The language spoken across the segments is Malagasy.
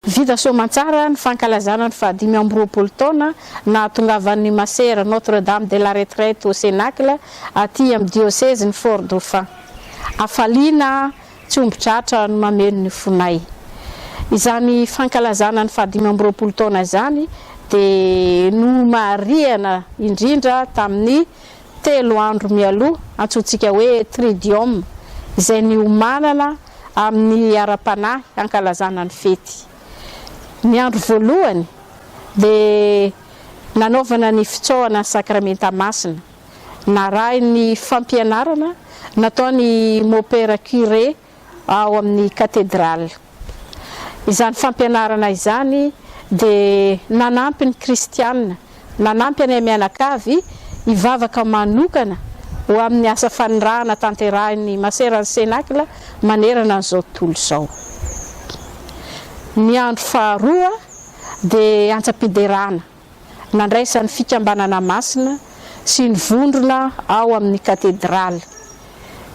Vita soamantsara ny fankalazana ny fahadimy amby roapolo taona nahatongavan'ny Masera Notre Dame de la Retraite au Cénacle aty amin'ny diosezin'i Fort Dauphin. Hafaliana tsy omby tratra no mameno ny fonay. Izany fankalazana ny fahadimy amby roapolo taona izany dia nomarihana indrindra tamin'ny telo andro mialoha, antsointsika hoe Tridium, izay niomanana amin'ny ara-panahy hankalazana ny fety. Ny andro voalohany dia nanaovana ny fitsaohana ny Sakramenta Masina, narahin'ny fampianarana nataon'i Mopera Curé ao amin'ny Katedraly. Izany fampianarana izany dia nanampy ny Kristiana, nanampy anay mianakavy hivavaka manokana ho amin'ny asa fanirahana tanterahin'ny Maseran'ny Cénacle manerana an'izao tontolo izao. Ny andro faharoa dia antsa-piderana. nandraisan'ny Fikambanana Masina sy ny vondrona ao amin'ny Katedraly.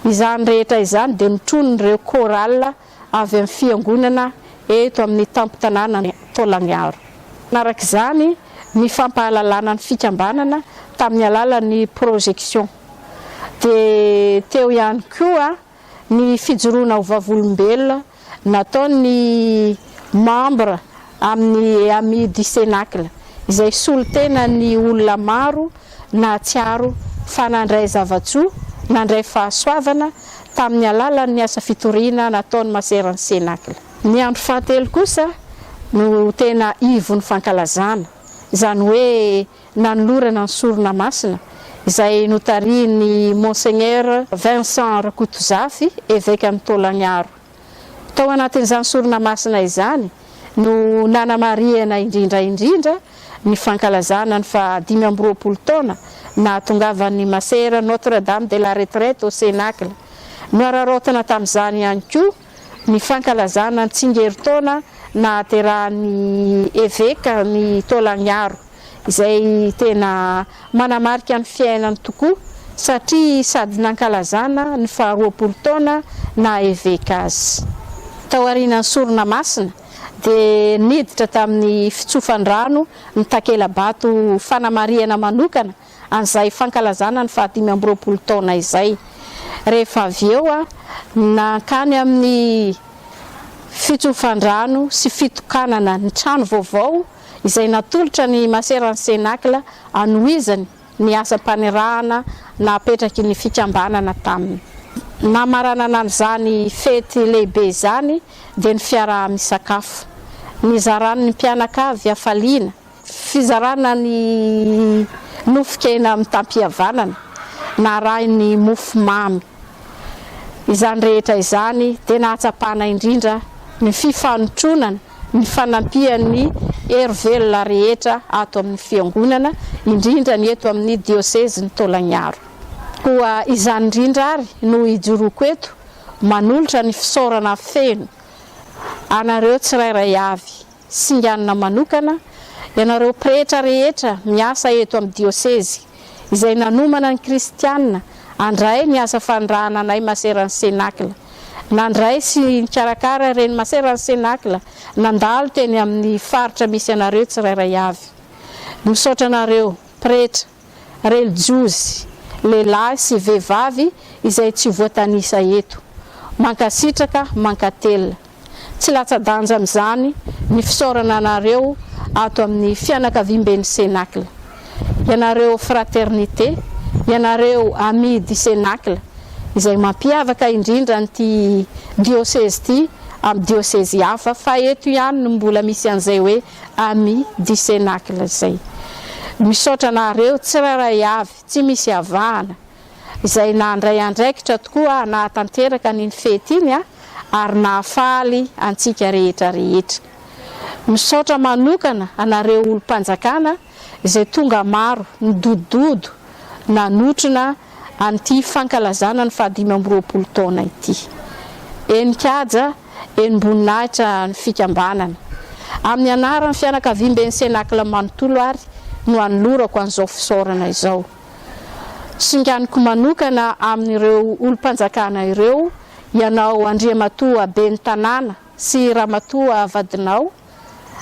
Izany rehetra izany dia notronin'ireo chorale avy amin'ny Fiangonana eto amin'ny tampon-tanànan'i Taolagnaro. Nanaraka izany ny fampahalalana ny Fikambanana tamin'ny alalan'ny projection. Dia teo ihany koa. ny fijoroana ho vavolombelona nataon'ny membre amin'ny Amis du Cénacle, izay solontenan'ny olona maro nahatsiaro fa nandray zava-tsoa, nandray fahasoavana tamin'ny alalan'ny asa fitoriana nataon'ny Maseran'ny Cénacle. Ny andro fahatelo kosa no tena ivon'ny fankalazana, izany hoe nanolorana ny sorona masina izay notarihin'ny Monseigneur Vincent Rakotozafy, Evekan'i Taolagnaro. Tao anatin'izany sorona masina izany no nanamarihana indrindra indrindra ny fankalazana ny faha dimy amby roapolo taona nahatongavan'ny Masera Notre-Dame de la Retraite au Cénacle. Nohararaotina tamin'izany ihany koa Ny fankalazana ny tsingerin-taona nahaterahan'ny Eveka ny Taolagnaro, izay tena manamarika ny fiainany tokoa satria sady nankalazana ny faha roapolo taona naha Eveka azy. Taorianan'ny sorona masina dia niditra tamin'ny fitsofan-drano ny takela-bato fanamarihana manokana an'izay fankalazana ny fahadimy amby roapolo taona izay. Rehefa avy eo, nankany amin'ny fitsofandrano sy fitokanana ny trano vaovao izay natolotra ny Maseran'ny Cénacle anohizany ny asam-panirahana napetraky ny fikambanana tamin'ny namaranana an'izany fety lehibe izany dia ny fiaraha-misakafo nizarany ny mpianakavy hafaliana Fizarana ny nofon-kena mitam-pihavanana narahin'ny mofo mamy. Izany rehetra izany dia nahatsapana indrindra ny fifanotronana nifanampian'ny hery velona rehetra ato amin'ny Fiangonana, indrindra ny eto amin'ny Diosezin'i Taolagnaro. Koa izany indrindra ary no ijoroako eto manolotra ny fisaorana feno anareo tsirairay avy singanina manokana, ianareo pretra rehetra miasa eto amin'ny diosezy, izay nanomana ny kristiana handray ny asa fanirahana anay Maseran'ny Cénacle, nandray sy nikarakara ireny Maseran'ny Cénacle nandalo teny amin'ny faritra misy anareo tsirairay avy. Misaotra anareo, pretra. relijiozy, lehilahy sy vehivavy izay tsy voatanisa eto. Mankasitraka, mankatelina. Tsy latsa-danja amin'izany ny fisaorana anareo ato amin'ny fianakaviamben'ny Cénacle. Ianareo Fraternité, ianareo Amis du Cénacle izay mampiavaka indrindra an'ity diosezy ity amin'ny diosezy hafa fa eto ihany no mbola misy an'izay hoe. amis du cenacle izay. Misaotra anareo tsirairay avy tsy misy avahana izay nandray andraikitra tokoa hanatanteraka an'iny fety iny ary nahafaly antsika rehetra rehetra. Misaotra manokana anareo olom-panjakana. izay tonga maro nidodododo nanotrona an'ity fankalazana ny fahadimy amby roapolo taona ity. Enin-kaja, enim-boninahitra ny fikambanana. Amin'ny anaran'ny fianakaviamben'ny Cénacle manontolo ary no anolorako an'izao fisaorana izao. Singaniko manokana amin'ireo olom-panjakana ireo, ianao Andriamatoa Ben'ny tanàna sy Ramatoa vadinao,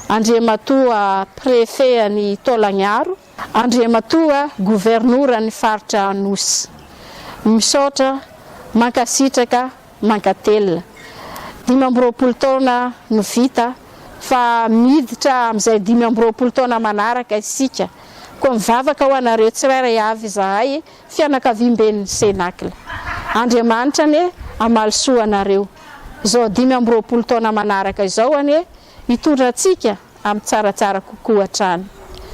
Andriamatoa Préfet an'i Taolagnaro, Andriamatoa Governoran'ny Faritra Anosy. Misaotra, mankasitraka, mankatelina. Dimy amby roapolo taona no vita fa miditra amin'izay dimy amby roapolo taona manaraka isika. Koa mivavaka ho anareo tsirairay avy izahay. fianakaviam-ben'ny Cénacle. Andriamanitra anie hamaly soa anareo. Izao dimy amby roapolo taona manaraka izao anie hitondra antsika amin'ny tsaratsara kokoa hatrany.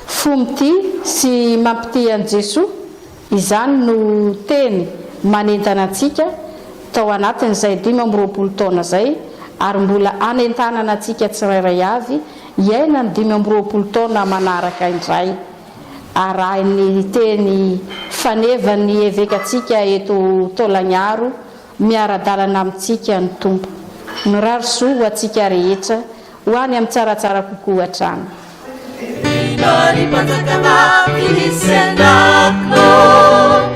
Fo mitia sy mampitia an'i Jesoa, izany no teny manentana antsika tao anatin'izay dimy amby roapolo taona izay ary mbola hanentanana antsika tsirairay avy hiaina ny dimy amby roapolo taona manaraka indray. Arahin'ny teny fanevan'ny evekantsika eto Taolagnaro, miara-dalana amintsika ny Tompo. Mirary soa ho antsika rehetra, ho any amin'ny tsaratsara kokoa hatrany. Vina ry mpanjakana, viny sy andavinao.